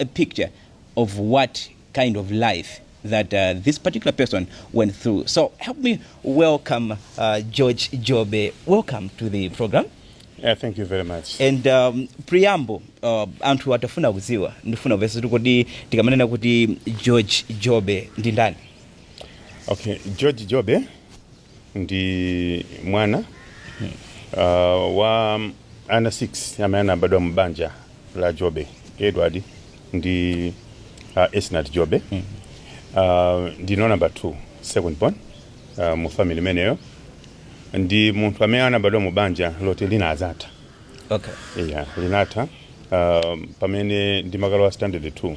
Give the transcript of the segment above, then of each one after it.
a picture of what kind of life that uh, this particular person went through. So help me welcome uh, George Jobe. Welcome to the program. Yeah, thank you very much. and um, preamble uh, anthu atafuna kudziwa ndifuna kuvesa kuti kodi tikamanena kuti george jobe ndi ndani Okay, George Jobe ndi mwana uh, wa ana 6 amene anabadwa mu banja la jobe edward ndi uh, esnat jobe uh, ndine number 2 second born uh, mu family imeneyo ndi munthu amene anabadwa mu banja loti linadzatha okay yeah, linatha um, pamene ndimakalowa standard 2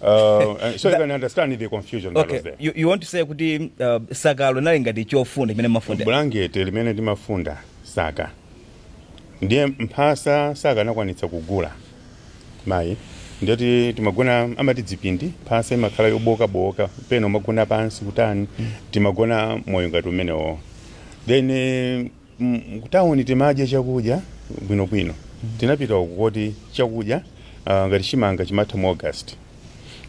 Uh, and so you can understand the confusion that okay was there. you, you want to say kuti uh, sakalo linali ngati chofunda chimene timafunda bulangete limene timafunda saka ndiye mphasa saka anakwanitsa kugula mayi ndiye kuti timagona amati dzipindi mphasa imakhala yobookabooka pena umagona pansi kutani timagona moyo ngati umenewo then eh, Ku town timadya chakudya bwinobwino. Tinapita uku koti chakudya ngati chimanga chimatha mu August.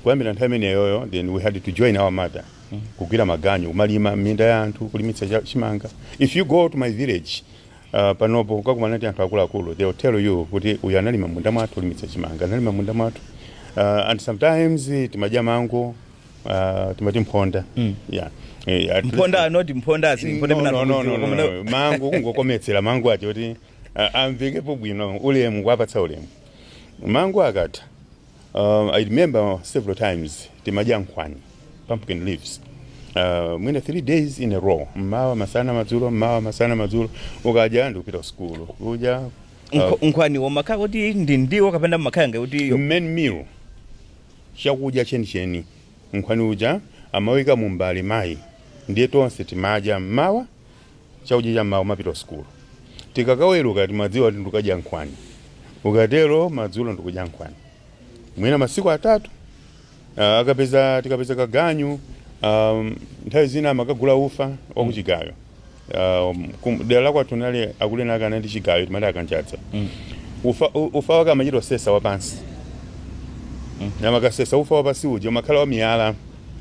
Kuyambira nthawi imeneyoyo then we had to join our mother kugwira maganyu kumalima m'minda ya anthu kulimitsa chimanga. If you go to my village panopo mukakumana ndi anthu akuluakulu they will tell you kuti uyu analima m'munda mwathu, kulimitsa chimanga, analima m'munda mwathu and sometimes timadya mango. Ah, timati mphonda yeah Eh, at mphonda least- not mphonda as mphonda No, no, no, no, no, mna- no. mango kungokometsera mango ati kuti ah, amvekepo bwino ulemu kuwapatsa ulemu mango akatha um, i remember several times timadya nkhwani pumpkin leaves Uh, mwina three days in a row mmawa masana madzulo mmawa masana madzulo ukadya ndikupita kusukulu kudya uh, Nkho- nkhwaniwo umakhala kuti ndi ndiwo kapena umakhala ngati kuti main meal chakudya chenicheni. Nkhwani uja amawaika mumbale mayi ndiye tonse timadya m'mawa chakudya cha m'mawa kumapita kusukulu. Tikakaweruka timadziwa kuti ndikukadya nkhwani. Ukatero madzulo ndikudya nkhwani. Mwina masiku atatu. Ah, akapeza tikapeza kaganyu ah, nthawi zina amakagula ufa wakuchigayo. Um, kum- dera la kwathu nali akulu ena ake anali ndi chigayo timati akanjadza ufa, u- ufa wake amachita osesa wapansi namakasesa ufa wapansi uja umakhala wa miyala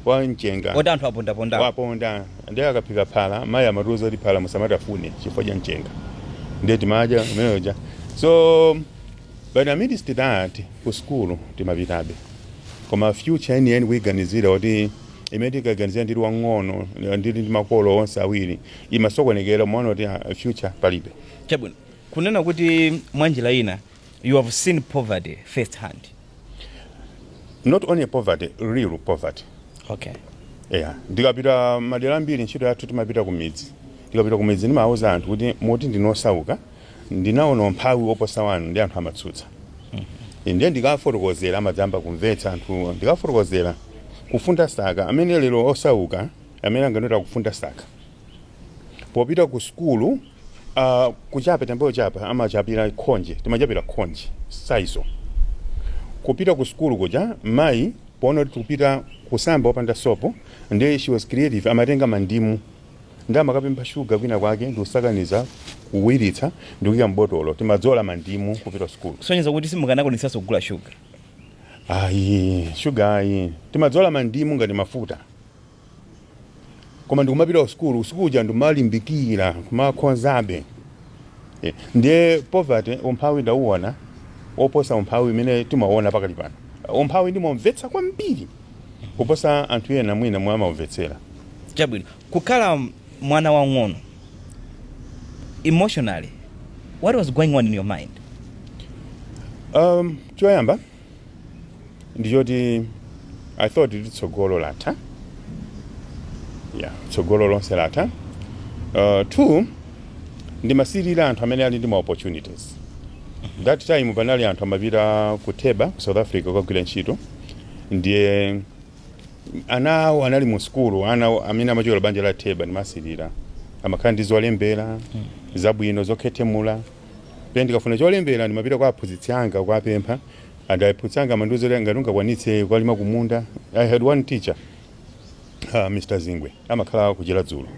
wa mchenga oti anthu apondaponda waponda ndiye akaphika phala mayi amatiuza kuti phala musamatafune chifukwa cha mchenga ndiye timadya imene ija so but amidst that ku sukulu timapitabe koma future yeniyeni kuiganizira kuti imene tinkaiganizira ndili wang'ono ndili ndi makolo onse awiri imasokonekera umaona kuti ah, future palibe chabwino kunena kuti mwa njira ina you have seen poverty first hand not only poverty real poverty okay yeah. ndikapita madera ambiri ntchito yathu timapita kumidzi ndikapita kumidzi ndimauza anthu kuti mumati ndinu osauka Ndinaona umphawi woposa wanu ndi anthu amatsutsa. Ndiye ndikawafotokozera amadzayamba kumvetsa anthuwo. Ndikawafotokozera kufunda saka amene lero osauka amene anganene kuti akufunda saka. Popita ku sukulu uh, kuchapa tambayo chapa amachapira khonje timachapira khonje saizo kupita ku sukulu kuja mayi poona kuti tikupita kusamba opanda sopo ndiye she was creative amatenga mandimu Ndiye amakapempha sugar kwina kwake ndikusakaniza, kuwiritsa ndikuika m'botolo. Timadzola mandimu kupita kusukulu. Kusonyeza kuti simukanakwanitsanso kugula sugar? Ayi, sugar ayi. Timadzola mandimu ngati mafuta. Koma ndikumapita kusukulu, usiku uja ndimalimbikira kumakhozabe. Eh, ndiye poverty, umphawi ndauona woposa umphawi umene tikuuona pakali pano. Umphawi ndimaumvetsa kwambiri. kuposa anthu ena mwina mmene amaumvetsera. Chabwino, kukhala mwana wamng'ono, emotionally, what was going on in your mind? Um, choyamba ndi choti I thought kuti tsogolo latha. Yeah, tsogolo lonse latha. Uh, two, ndimasirira anthu amene ali ndi ma opportunities. That time panali anthu amapita ku Teba ku South Africa kukagwira ntchito. ndiye ana awo anali mu sukulu amene amachokera banja la teba ndimasirira amakhala ndi zolembera zabwino zokhethemula pena ndikafuna cholembera ndimapita kwa aphunzitsi anga kuwapempha and aphunzitsi anga amandiuza kuti ngati ungakwanitse kukalima kumunda i had one teacher uh, mr zingwe amakhala kuchera dzulo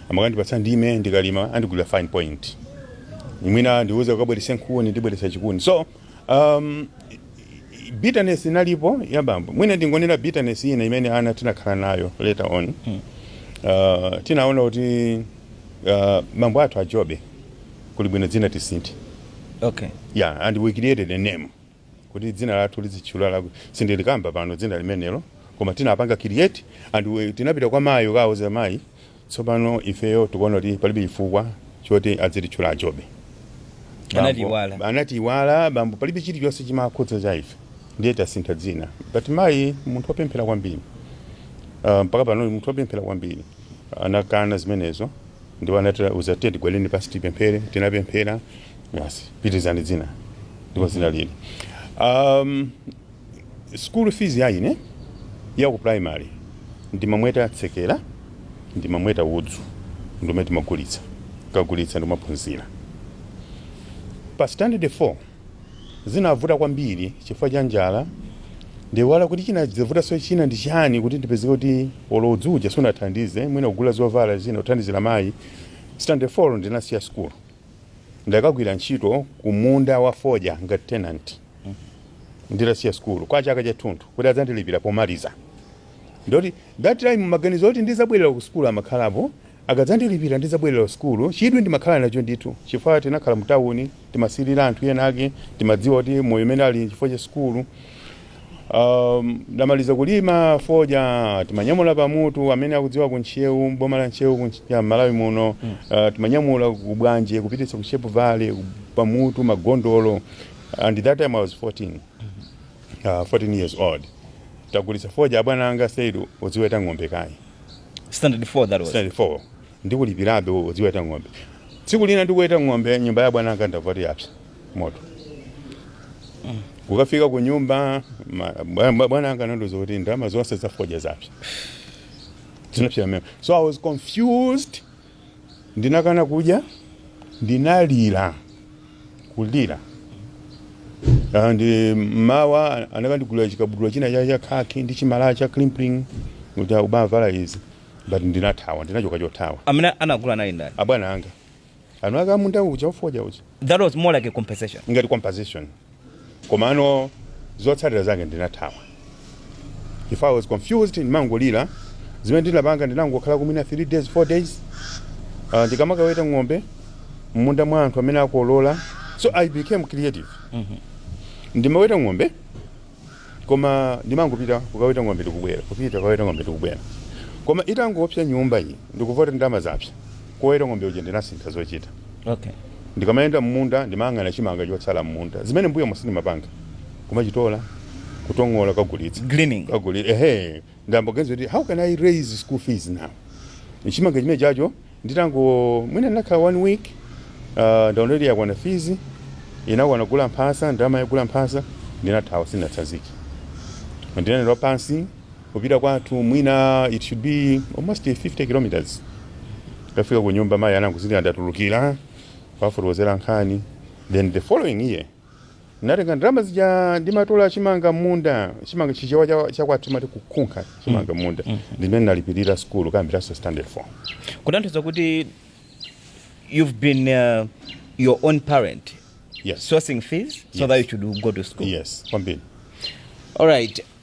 amakandipatsa ndime ndikalima andigulira fine point mwina andiuze ukabwerese nkhuni ndibweresa chikuni so Um, bitterness inalipo ya bambo mwina ndingonena bitterness ina imene ana tinakhala nayo later on uh, tinaona kuti uh, bambo athu a Jobe kuli bwino dzina tisinthe okay yeah and we created a name kuti dzina lathu lizitchula la sindilikamba pano dzina limenelo koma tinapanga create and we, tinapita kwa mayi kukauza mayi Tsopano ifeyo tikuona kuti palibe chifukwa choti adzititchula a Jobe. Anatiiwala, bambo, palibe chilichonse chimawakhudza cha ife. Ndiye tasintha dzina. But mayi munthu wopemphera kwambiri. Ah, mpaka pano ndi munthu wopemphera kwambiri. Anakana zimenezo ndipo anatiuza kuti tiyeni tigwade pansi tipemphere. Tinapemphera. Basi, pitirizani dzina. Ndipo dzina lili. Um, School fees ya ine ya ku primary ndimamweta tsekera, ndimamweta udzu ndiumene timagulitsa, tikagulitsa ndikumaphunzira. Pa standard 4 zinavuta kwambiri chifukwa cha njala, ndaiwala kuti chinadzavutanso china ndi chani kuti ndipezeke kuti olo udzu uja sunathandize, mwina kugula zovala zina kuthandizira mayi, standard 4 ndinasiya school. Ndakagwira ntchito kumunda wa fodya ngati tenant nditasiya sukulu kwa chaka chathunthu kuti adzandilipira pomaliza. Ndiye that time maganizo oti ndidzabwerera kusukulu amakhalapo, akadzandilipira ndidzabwerera kusukulu. Chidwi ndimakhala nacho ndithu chifukwa tinakhala mutauni, timasirira anthu enaake, timadziwa kuti moyo umene ali n'chifukwa cha sukulu. Um, titamaliza kulima fodya timanyamula pamutu amene akudziwa ku Ntcheu boma la Ntcheu ku Ntch- ya Malawi muno uh, timanyamula ku Bwanje kupititsa ku Sharpe Valley ku- pamutu magondolo and that time I was 14 uh, 14 years old titagulitsa fodya abwana anga said udziweta ng'ombe kaye standard 4 that was standard 4 Ndikulipirabe udziweta ng'ombe. Tsiku lina ndikuweta ng'ombe, nyumba ya abwana anga ndamva kuti yapsa moto. Kukafika kunyumba, ma- bwa- bwa- bwana anga anandiuza kuti ndalama zonse za fodya zapsa. Zinapsa momwemo. So I was confused. Ndinakana kudya, ndinalira, kulira. And eh, mawa anakandigulira chikabudula china cha cha khaki ndi chimalaya cha crimplene kuti uzivala izi. but ndinathawa ndinachoka chothawa Amene anagula anali ndani? abwana anga eni ake munda uja wa fodya uja That was more like a compensation. ngati compensation komano zotsatira zake ndinathawa if i was confused ndimangolira zimene ndinapanga ndinangokhala mwina 3 days 4 days uh, ndikamakaweta ng'ombe mmunda mwa anthu amene akolola so i became creative ndimaweta ng'ombe koma ndimangopita kukaweta ng'ombe ndikubwera kupita kukaweta ng'ombe ndikubwera koma itangopsa nyumba iyi ndikumva kuti ndalama zapsa koweta ng'ombe uja ndinasintha zochita okay ndikamayenda m'munda ndimayang'ana chimanga chotsala m'munda zimene m'mbuyomu sindimapanga kumachitola kutongola kagulitsa Gleaning. kaguli ehe Ndayamba kuganiza kuti how can I raise school fees now chimanga chimenechocho nditango mwina ndinakhala one week uh, ndaona kuti yakwana fees inakwana kugula mphasa ndalama yogula mphasa ndinathawa sindinatsanzike ndinayenda pansi kupita kwathu mwina it should be almost 50 kilometers ndafika ku nyumba mayi anangozindikira ndatulukira kuwafotokozera nkhani then the following year Ndinatenga ndalama zija ndimatola chimanga m'munda, chimanga Chichewa cha, cha kwathu timati kukunkha chimanga m'munda, ndimene ndinalipirira sukulu kuyambiranso standard 4. kutanthauza kuti you've been uh, your own parent Yes. sourcing fees so Yes. that you should go to school Yes, kwambiri. all right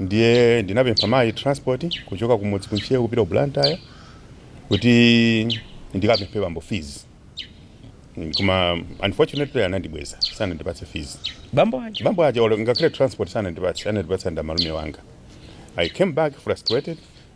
ndiye ndinapempha mayi transport kuchoka kumudzi ku Ntcheu kupita ku blantyre kuti ndikapemphe bambo fees Mm, koma unfortunately anandibweza sanandipatse fees bambo aja bambo aja olo ngakhale transport sanandipatse anandipatsa ndi amalume anga i came back frustrated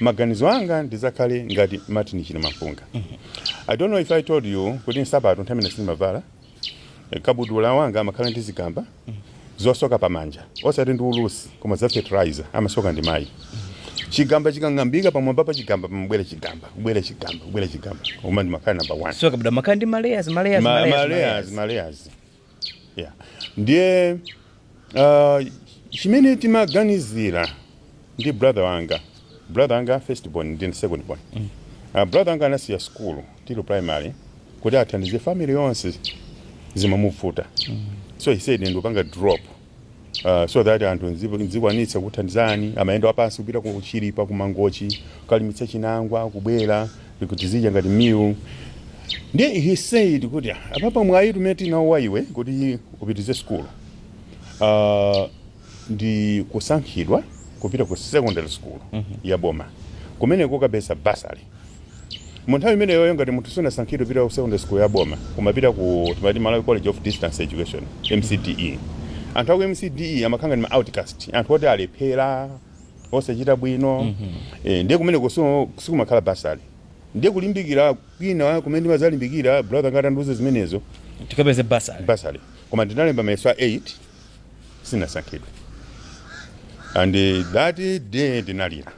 maganizo anga ndidzakhale ngati martin chilimampunga i don't know if i told you kuti nsapato nthawi imene sindimavala eh, kabudula wanga amakhala ndi zigamba zosoka pamanja osati ndi ulusi koma za fertilizer amasoka ndi mayi chigamba chikang'ambika pamwamba pa chigamba pamabwera chigamba kubwera chigamba kubwera chigamba koma ndimakhala number one so kabudula amakhala ndi malayers Yeah. Ndiye uh, chimene timaganizira ndi brother wanga brother wanga first born ndi second born mm. uh, brother wanga anasiya skulu tili primary kuti athandize family yonse zimamuvuta mm. so he said ndikupanga drop Uh, so that anthu nzi- nzikwanitsa kuthandizani amayenda wapansi kupita ku chilipa ku mangochi kalimitsa chinangwa kubwera kuti tizidya ngati meal ndiye he said kuti "Ah, apapa mwayi umene tinawo wa iwe kuti upitize sukulu uh, ndi kusankhidwa kupita ku secondary school ya boma kumeneko ukapeza bursary Mu nthawi imeneyoyo ngati munthu sunasankhidwe kupita ku secondary school ya boma umapita ku timati Malawi College of Distance Education, MCDE. Anthu aku MCDE amakhala ngati ma outcast, anthu oti alephera, osachita bwino. Eh, ndiye kumeneko so sikumakhala bursary. Ndiye kulimbikira kwina kumene ndimadzalimbikira brother wanga atandiuza zimenezo tikapeze bursary bursary. Koma ndinalemba mayeso a 8 sinasankhidwe. And that day ndinalira.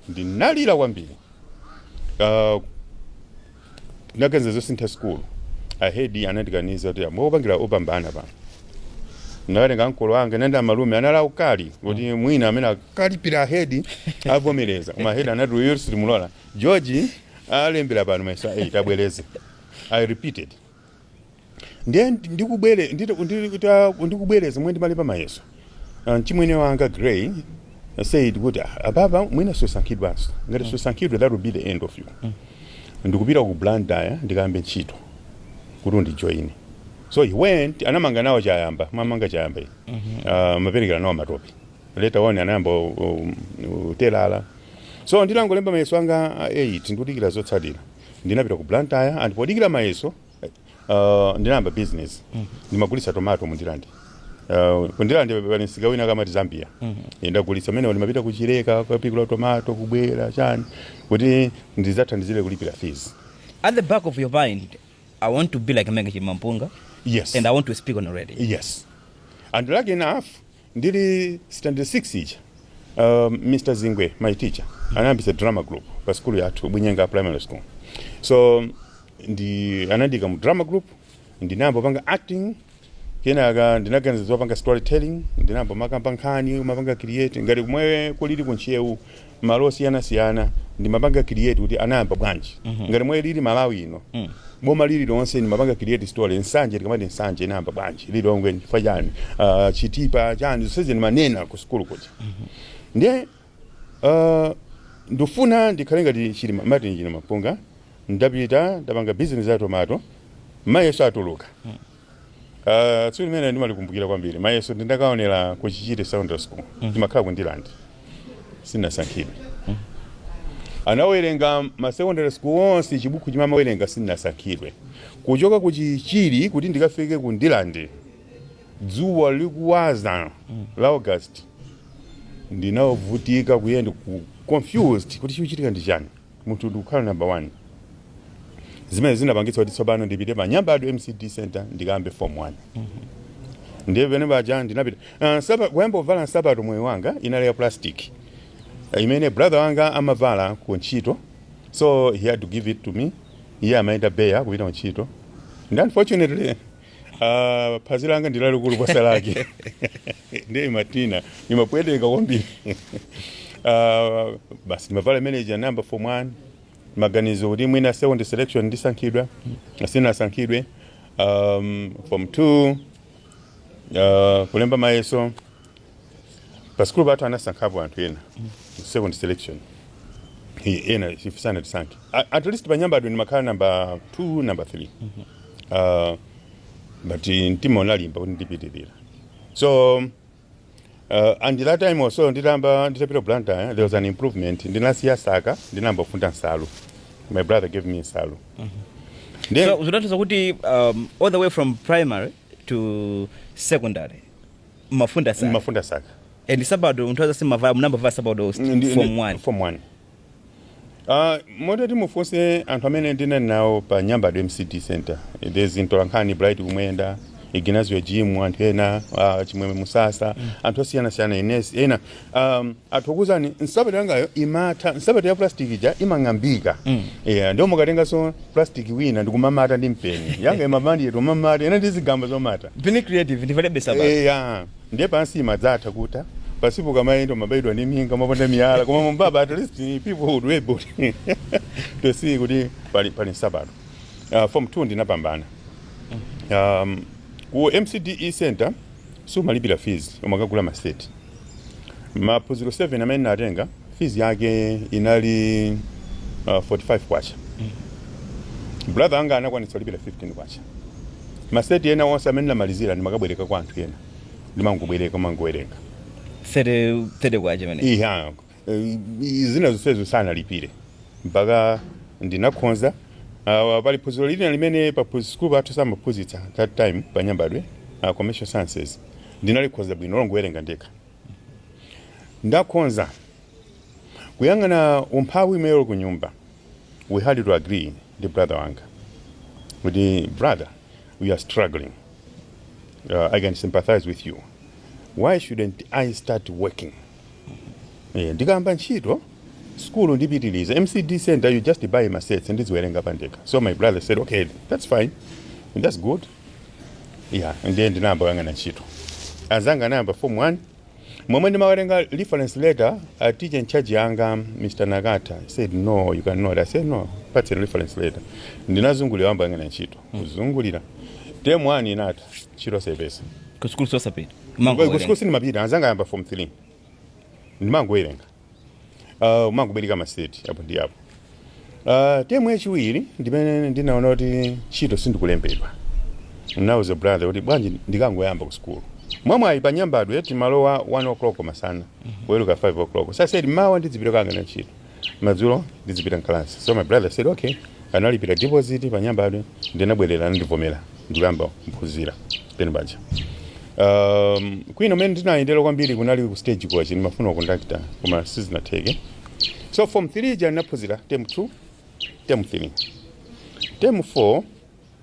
ndinalira kwambiri uh, ndinaganiza zosintha sukulu ahedi anandikaniza kuti amwe opangira opambana pano ndakatenga ankolo anga anayenda malume anali aukali kuti mwina amene akalipira ahedi avomereza koma ahedi anati uyo sitimulola george alembera pano mayeso a 8 abwereze i repeated ndiye ndikubwere ndita- ndita- ndikubwereza momwe ndimalemba mayeso Ah, mchimwene wanga gray said kuti "Ah, apapa mwina susankhidwanso ngati susankhidwa that will be the end of you ndikupita ku blantyre ndikayambe ntchito kuti undijoine so he went anamanga nawo chayamba amamanga chayamba iyi Ah, amaperekera nawo matope later on anayamba u- u- utelala so nditangolemba mayeso anga a 8 ndikudikira zotsatira ndinapita ku blantyre and podikira mayeso uh, ndinayamba business ndimagulitsa tomato mu ndirande Uh, ku ndirande pali msika wina wake amati zambia Eh, ndagulitsa mmenemo ndimapita ku chileka kapikula tomato kubwera chani kuti ndizathandizire kulipira fees at the back of your mind i want to be like martin chilimampunga yes and i want to speak on radio yes and lucky enough Ndili standard 6 ija um, Mr Zingwe my teacher anayambitsa drama group pa sukulu yathu Bunyenga primary school so ndiye anandiika mu drama group ndinayamba panga acting kenaka ndinaganiza zopanga storytelling ndinayamba kumakamba nkhani kumapanga create ngati komwe kulili ku Ntcheu malo osiyana siyana ndimapanga create kuti anayamba bwanji ngati mwe ilili malawi ino boma lili lonse ndimapanga create story nsanje tikamati nsanje inayamba bwanji lilongwe chifukwa chani Ah, chitipa chani zonsezi ndimanena ku sukulu kuti ndiye ah, ndifuna ndikhale ngati chilima martin chilima mpunga ndapita ndapanga business ya tomato mayeso atuluka Uh, tsiku limene ndimalikumbukira kwambiri mayeso ndindakaonera ku chichiri secondary school ndimakhala ku ndirande sinasankhidwe anawerenga ma secondary school onse chibuku chimene amawerenga sinasankhidwe kuchoka ku chichiri kuti ndikafike ku ndirande dzuwa likuswa la august ndinavutika kuyenda confused kuti chikuchitika ndi chani munthu ndikukhala number 1 zimene zinapangitsa kuti tsopano ndipite pa nyambadwe mcd center ndikayambe form 1 ndiye pamene paja ndinapita Ah, nsapa- kuyamba kuvala nsapato moyo wanga inali ya plastic Ah, imene brother wanga amavala ku ntchito so he had to give it to me iye amayenda bare kupita ku ntchito and unfortunately Ah, phazi langa ndi lalikulu kuposa lake ndiye imatina imapweteka kwambiri Ah, basi ndimavala imene ija nayamba form one maganizo kuti mwina second selection ndisankhidwa sinasankhidwe um, form two uh, kulemba mayeso pasukulu pathu anasankhapo anthu ena mu second selection I- ena ife sanatisankhe A- at least panyambadwe ndimakhala namba 2 namba 3 uh, but eh, mtima unalimba kuti ndipitirira so uh, and that time also nditamba nditapita blantyre eh, there was an improvement ndinasiya saka ndinayamba kufunda nsalu my brother gave me nsalu Then- So, zinatanthauza kuti um, all the way from primary to secondary mumafunda saka mafunda saka and nsapato munthu aza simumavala munayamba kuvala nsapato usti Ndi- ndi- form 1 form 1 Uh, moti ati mufunse anthu amene ndinali nawo pa nyambadwe mcd center there's mtolankhani bright kumwenda ignazio jim anthu ena uh, chimwemwe musasa anthu osiyanasiyana ines ena um, athokozani nsapato yangayo imatha nsapato ya plastic ija imang'ambika mm. yeah, ndiye mukatenganso plastic wina ndikumamata ndi mpeni yanga imamata ndikumamata ina ndi zigamba zomata being creative ndivalebe nsapato. yeah. ndiye pansi imadzatha kutha pansipo ukamayenda umabaidwa ndi minga umaponda miyala koma m'mwamba at least people would be able to see kuti pali, pali nsapato uh, form 2 ndinapambana um, ku mcde center sumalipira fees umakagula ma set maphunziro 7 amene ndinatenga fees yake inali uh, 45 kwacha brother anga anakwanitsa kulipira 15 kwacha maseti ena onse amene ndinamalizira ndimakabwereka kwa anthu ena ndimangobwereka kumangowerenga 30 30 kwacha pamene ija zina zonsezo sanalipire mpaka ndinakhonza uh, pali phunziro lina limene pa phunzi- sukulu pathu samaphunzitsa that time pa nyambadwe uh, commercial sciences ndinalikhonza bwino longowerenga ndekha ndakhoza kuyang'ana umphawi imeyolo ku nyumba we had to agree ndi brother wanga kuti brother we are struggling uh, i can sympathize with you why shouldn't i start working Eh, ndikayamba ntchito sukulu ndipitiliza mcd center you just buy masets ndiziwerenga pandekha so my brother said okay that's fine and that's good yeah ndiye ndinayamba kuyang'ana ntchito anzanga anayamba form 1 momwe ndimawerenga reference letter a teacher in charge yanga mr nakata he said no you cannot i said no patseni reference letter ndinazungulira kuyamba kuyang'ana ntchito kuzungulira term 1 inatha ntchito osapeza Ku sukulu osapita. Mangowerenga. kusukulu sindimapita anzanga ayamba form 3 ndimangowerenga uh, mangobereka maseti apo ndi apo uh, temu yachiwiri ndimene ndinaona kuti ntchito sindikulembedwa nauza brother kuti bwanji ndikangoyamba ku sukulu mwamwayi pa nyambadwe timalowa 1 o'clock masana kuweruka 5 o'clock so i said mawa ndidzipita kukayang'ana ntchito madzulo ndidzipita mkalasi so my brother said okay analipira deposit pa nyambadwe ndinabwerera anandivomera ndikuyamba kuphunzira pamene paja um, kwina kumene ndinayendera kwambiri kunali ku stage coach ndimafuna kondakta koma sizinatheke so form 3 ija ndinaphunzira term 2 term 3 term 4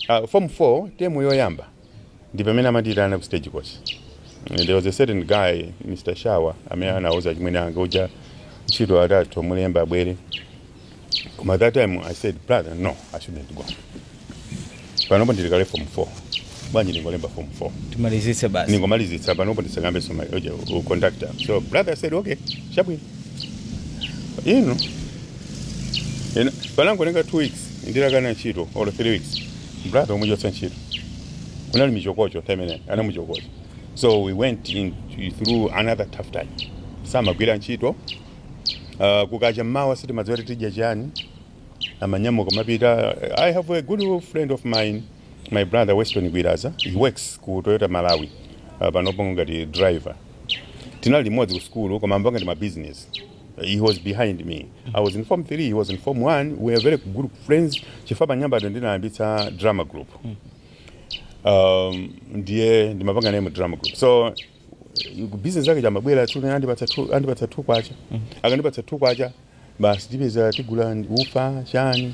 Uh, form 4 temu yoyamba ndi pamene amandiyitana ku stage coach. There was a certain guy Mr. Shawa amene anauza chimwene anga uja ntchito atha tumulemba abwere. Koma that time I said brother no I shouldn't go. Panopo ndili kale form 4. Bwanji ndingolemba form 4. timalizitse basi Ningomalizitsa panopo ndisakayambe zoma uja u conductor. So brother said okay chabwino. Inu. Ina panangopanga 2 weeks nditakana ntchito or 3 weeks brother kumuchotsa ntchito kunali michokocho nthawi imene anamuchotsa so we went through another tough time samagwira ntchito uh, kukacha mmawa sitimadziwa kuti tidya chani amanyamuka amapita i have a good friend of mine my brother weston gwiraza he works ku toyota malawi uh, panopo ngati driver tinali limodzi ku sukulu koma amapanga ndi mabizinesi He was behind me. I was in Form 3, he was in Form 1. We were very good friends. Chifukwa pa nyambadwe ndinayambitsa drama group. Um, ndiye ndimapanga naye mu drama group. So business yake ija amabwera tu naye andipatsa tu andipatsa 2 kwacha. Akandipatsa 2 kwacha basi tipeza tigula ufa chani.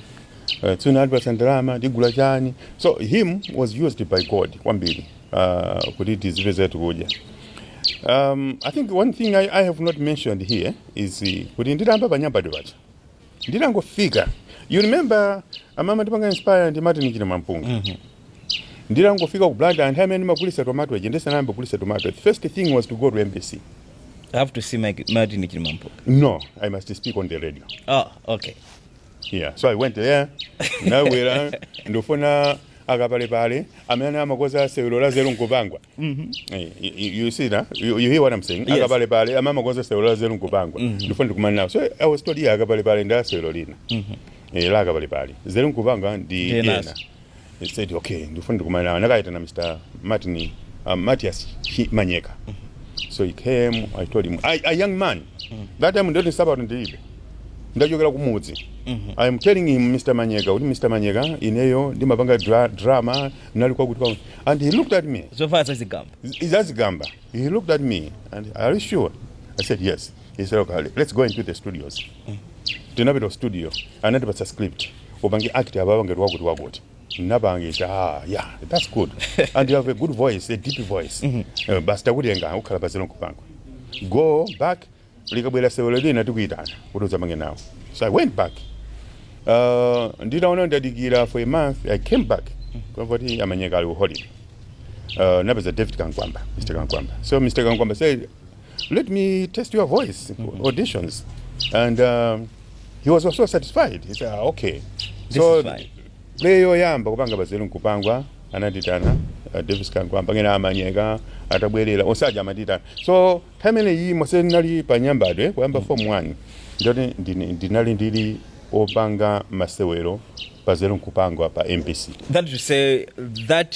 Uh, tuna andipatsa ndalama tigula chani. So him was used by God kwambiri. uh, kuti tizipeza tikudya um, i think one thing I, i have not mentioned here is uh, kuti nditayamba pa Nyambadwe paja nditangofika you remember tipanga inspire ndi martin chilimampunga mm -hmm. nditangofika ku blantyre anthu amene ndimagulisa tomato aja ndisanayambe kugulisa tomato the first thing was to go to mbc I have to see Mike, Martin Chilimampunga. no i must speak on the radio Ah, okay. yeah so i went there ndabwera ndikufuna akapalepale amene amakoza sewero la nzeru nkupangwa Eh, you- you you see na you, you hear what i'm saying Yes. akapalepale amene amakoza sewero la nzeru nkupangwa ndikufuna ndikumane nawo so i was told yeah akapalepale ndi a sewero lina Eh, la akapalepale nzeru nkupangwa ndi Ndi ena enanso. I said, okay, ndikufuna ndikumane nawo. Anakaitana Mr. Martin, uh, Matthias Chi- Manyeka. So he came, I told him, I, a young man, that time ndoti nsapato ndilibe. Ndachokera kumudzi. I am telling him, Mr. Manyeka, kuti Mr. Manyeka, ineyo ndimapanga dra drama, ndinali kwakuti kwakuti. And he looked at me. zovala zazigamba zazigamba. He looked at me and are you sure? I said yes. He said, okay, let's go into the studios. tinapita ku studio anatipatsa script upange act ababa ngati wakuti wakuti ndinapanga ah, yeah that's good and you have a good voice a deep voice mm -hmm. uh, basi takutenga ukhala pa nzeru nkupangwa go back likabwera sewelo lina tikuyitana kuti udzapange nawo so i went back uh, nditaona ndadikira for a month i came back kuti amanyeka ali ku holiday uh, ndinapeza davis kamkwamba mr kamkwamba so mr kamkwamba said let me test your voice mm -hmm. auditions and um, he was also satisfied he said ah, okay This so play yoyamba kupanga pa nzeru nkupangwa anandiitana uh, davis kamkwamba kenako a manyeka atabwerera onse aja amandiitana so time imene ija yonse ndinali pa nyambadwe kuyamba mm. form 1 ndoti ndinali ndili opanga masewero pa nzeru nkupangwa pa mbc that to say that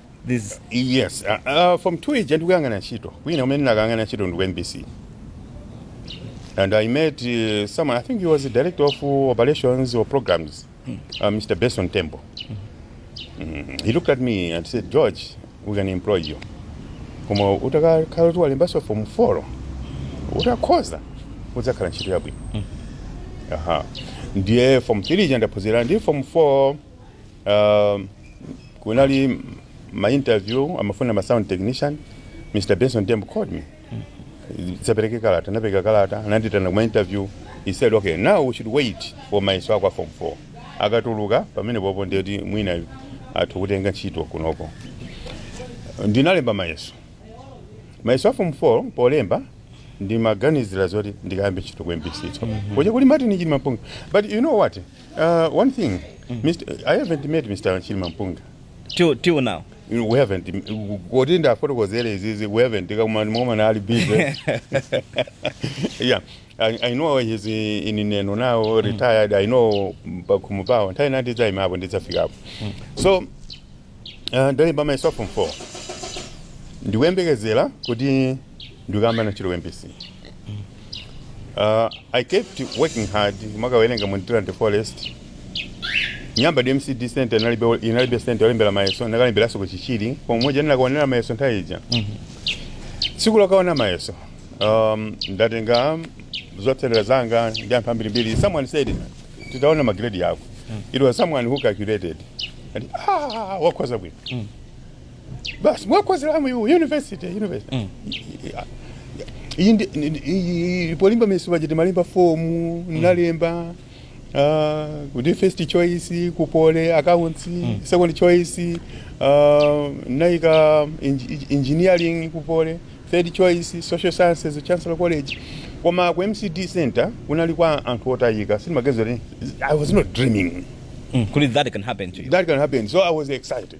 This Yes, uh, uh, form 2 ija ndikuyang'ana ntchito kwina kumene ndinakayang'ana ntchito ndi ku MBC and I met uh, someone I think he was the director of uh, operations or programs uh, Mr. Benson Tembo mm, he looked at me and said George we can employ you koma utakhala kuti walembanso form 4 utakhoza udzakhala ntchito yabwino aha ndiye form 3 ija ndaphunzira ndi form 4 Um, kunali ma interview amafuna ma sound technician Mr. Benson Tembo called me dzapereke kalata ndinapereka kalata anandiitana kuma interview he said okay now we should wait for mayeso ako a form 4 akatuluka pamene pompo ndiye kuti mwina atha kukutenga ntchito kunoko ndinalemba mayeso mayeso a form 4 polemba ndimaganizira zoti ndikayambe ntchito ku mbc so kuja kuli martin chilimampunga but you know what Uh, one thing, Mr. I haven't met Mr. Chilima Mpunga. till till now We haven't. Kodi ndafotokozere izizi, we haven't. Kama mama na ali busy. yeah. I, I know he's in in Neno now, retired. I know pakumu pao. Ntai nati za imapo, ndizafika hapo. So, uh, ndali by myself from four. Ndiwembekezera kuti ndikayambe ntchito mbc uh, i kept working hard kumakawerenga mu Ndirande forest nyamba ndi mcd center inalibe inalibe center yolembera mayeso ndakalemberanso ku chichiri pomwe moja ndinakaonera mayeso nthawi ija tsiku lokaona mayeso um, ndatenga zotsatira zanga ndi anthu ambirimbiri someone said titaona magredi yako it was someone who calculated and ah wakhoza bwino basi wakhoza mwamu university university Mm. iyi ndi- ndi- ndi- iyi- polemba mayeso paja timalemba fomu nalemba ah, kuti first choice kupole accounts second choice ah, ndaika engi- engineering kupole third choice social sciences chancellor college koma ku mcd center kunali kwa anthu otayika sindimaganiza kuti i was not dreaming Mm, kuti that can happen to you that can happen so i was excited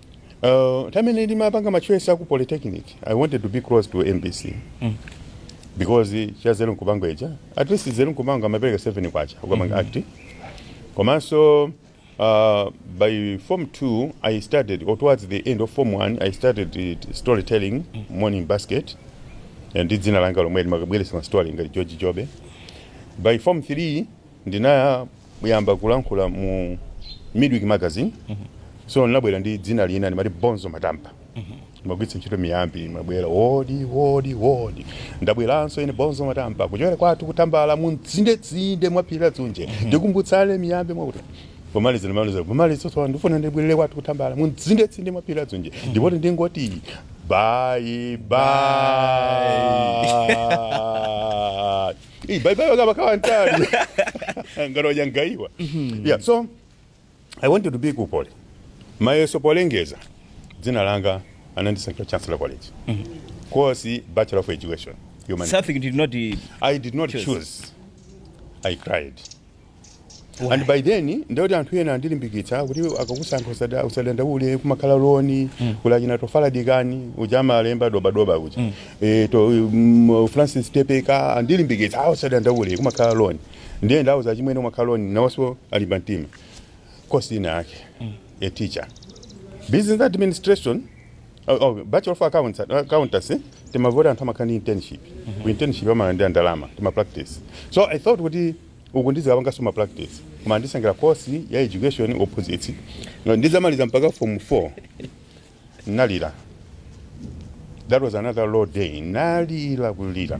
Uh, nthawi yomwe ndimapanga machoice aku polytechnic i wanted to be close to mbc mm. because cha nzeru nkupangwa ija at least nzeru nkupangwa amapereka 7 kwacha ukapanga mm -hmm. act komanso uh, by form 2 i started or towards the end of form 1 i started it- storytelling mm -hmm. morning basket ndi dzina langa lomwe ndimakabweretsa ma story ngati george jobe by form 3 Ndinayamba kulankhula mu Midweek Magazine. So ndinabwera ndi dzina lina ndimati Bonzo Matampa. Ndimagwiritsa ntchito miyambi, ndimabwera wodi wodi wodi. Ndabweranso ine Bonzo Matampa kuchokera kwathu ku Tambala m'tsindetsinde mwa phiri la Dzunje. Tikumbutsane miyambi mwakuti. Pomaliza ndimaliza pomaliza tsopano ndifuna ndibwerere kwathu ku Tambala m'tsindetsinde mwa phiri la Dzunje. Ndipo ndingoti bye bye. Hey, bye bye wakaba kawantali. Ngalo yangaiwa. Yeah, so I wanted to be ku pole. Mayeso polengeza dzina langa anandisankhira Chancellor College. Course Bachelor of Education. Humanity. Something did not. uh, I did not Choose. choose. I cried. and by then ndikuti anthu ena andilimbikitsa kuti akakusankha usada- usadandaule kumakhala loni kuli achina tofala dikani uja amalemba dobadoba uja Eh, to mm, francis tepeka andilimbikitsa a usadandaule kumakhala loni ndiye ndauza chimwene kumakhala loni nawonso alimba mtima cousin wake a teacher business administration Oh, oh, bachelor of accounts, uh, accountancy eh? timamva kuti anthu amakhala ndi internship ku internship amalandira ndalama tima practice so i thought kuti uku ndizikapanganso ma practice koma andisankhira course ya education opposite No, ndisanamalize mpaka form 4 nalira that was another low day nalira kulira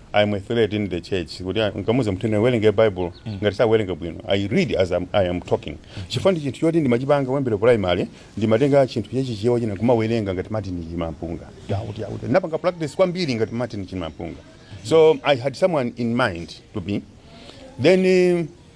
I am a threat in the church kuti ah, nkamuuza munthu tiwerenge bible ngati sakuwerenga bwino i read as I'm, i am talking chifukwa ndi chinthu choti ndimachipanga kuyambira primary ndimatenga chinthu chachichewa china kumawerenga ngati martin chimampunga yakuti yakuti ndinapanga practice kwambiri ngati martin chimampunga so i had someone in mind to be then eh,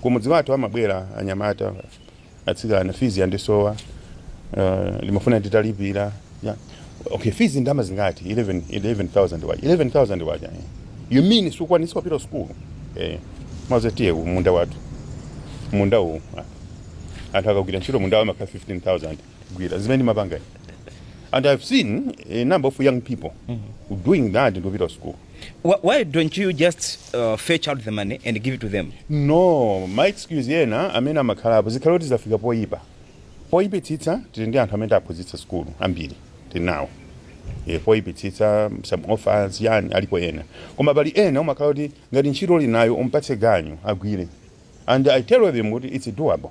Kumudzi kwathu amabwera anyamata atsikana fizi yandisowa uh, ndimafuna nditalipira yeah. okay fizi ndama zingati 11 11000 kwacha 11000 kwacha eh. you mean sukwanisa kupita school eh maze tiye ku munda wathu munda uwu ah. anthu akagwira ntchito mundawo amakhala 15000 gwira zimene ndimapanga ine. and i've seen a number of young people doing that ndopita school Wh- Why don't you just uh, fetch out the money and give it to them? no ma excuse ena amene amakhalapo zikhale kuti zafika poyipa poyipitsitsa tili ndi anthu amene aphunzitsa sukulu ambiri tili nawo e, poyipitsitsa some orphans yani alipo ena koma pali ena umakhala kuti ngati ntchito uli nayo umpatse ganyu agwire and i tell them kuti it's doable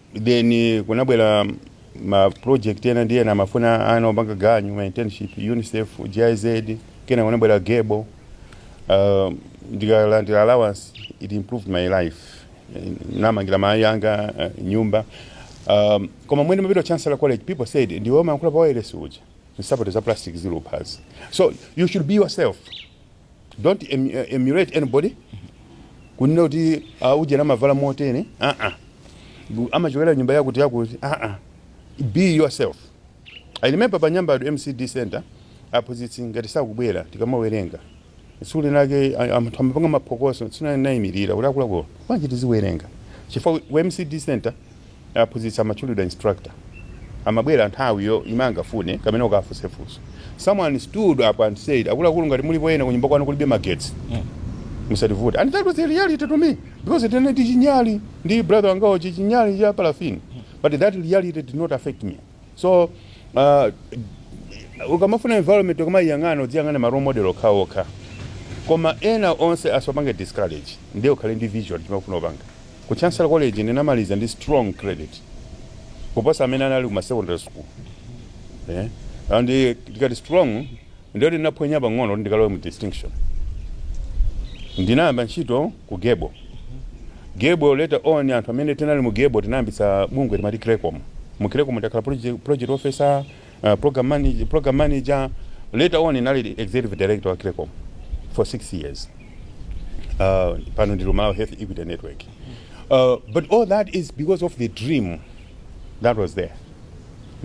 then kunabwera ma project ena ndi ena amafuna ana opanga ganyu ma internship unicef giz kena kunabwera gable uh, ndikalandira allowance it improved my life Eh, namangira mayi anga eh, nyumba um, koma mmene ndimapita chancellor college people said ndiwe umayankhula pa wireless uja nsapato za plastic zili kuphazi so you should be yourself Don't emulate anybody kunena kuti ah, ujeni amavala motene aa amachokera nyumba yakuti yakuti aa be yourself i remember pa nyambadwe mcde center aphunzitsi ngati sakubwera tikamawerenga tsiku linake a- anthu amapanga maphokoso tsiku linake nayimirira kuti akuluakulu bwanji tiziwerenga chifukwa ku mcde center aphunzitsi amatchulidwa instructor amabwera nthawiyo imene angafune kapena ukafunse funso someone stood up and said akuluakulu ngati mulipo ena kunyumba kwanu kulibe magetsi musativute and that was the reality to me because ndinali ndi chinyali ndi brother wangawo chichinyali cha parafini but that reality did not affect me so uh, ukamafuna environment ukamayiyang'ana udziyang'ana ma role model okhaokha koma ena onse asakupange discourage ndiye ukhale ndi vision chimene ufuna kupanga ku chancellor college ndinamaliza ndi strong credit kuposa amene anali ku ma secondary school eh? and eh, tikati strong Ndiye kuti ndinaphonya pang'ono kuti ndikalowe mu distinction. Ndinayamba ntchito ku Gable. Gable later on anthu amene tinali mu Gable tinayambitsa bungwe timati Creccom. Mu Creccom ndakhala project, project officer, uh, program manager, program manager. Later on ndinali executive director wa Creccom for six years. Uh, pano ndili ku Malawi Health Equity Network. Uh, but all that is because of the dream that was there.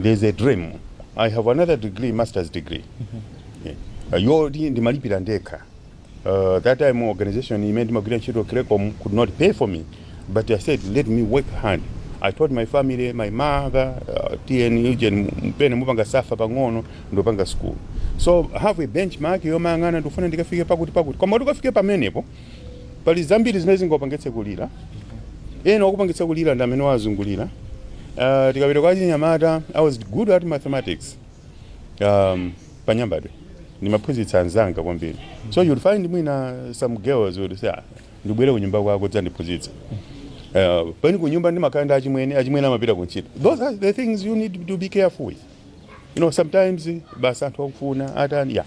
there is a dream i have another degree masters degree Yeah. Uh, yoti ndimalipira ndekha uh, that time organization imene ndimagwira ntchito creccom could not pay for me but i said let me work hard i told my family my mother uh, tiyeni ujeni pena mupanga suffer pang'ono ndopanga school so have a benchmark yomayang'ana ndikufuna ndikafike pakuti pakuti koma kuti ukafike pamenepo pali zambiri zimene zingakupangitse kulira ena wakupangitsa kulira ndi amene wakuzungulira uh, tikapita kwa chinyamata i was good at mathematics um, panyambadwe ndimaphunzitsa anzanga kwambiri so you'll find mwina some girls would say "Ah, ndibwere kunyumba kwako udzandiphunzitse uh, pomwe kunyumba ndimakhala ndi achimwene achimwene amapita kuntchito those are the things you need to be careful with you know sometimes basi anthu akufuna atani yeah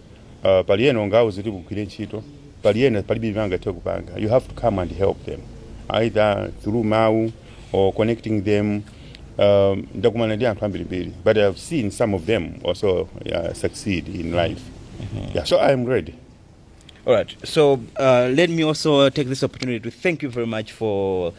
uh, pali ena ungauze kuti ukagwire ntchito pali ena palibe chimene angathe kupanga you have to come and help them either through mawu or connecting them um, ndakumana ndi anthu ambirimbiri but i've seen some of them also uh, succeed in life yeah, so i'm ready All right. So uh, let me also take this opportunity to thank you very much for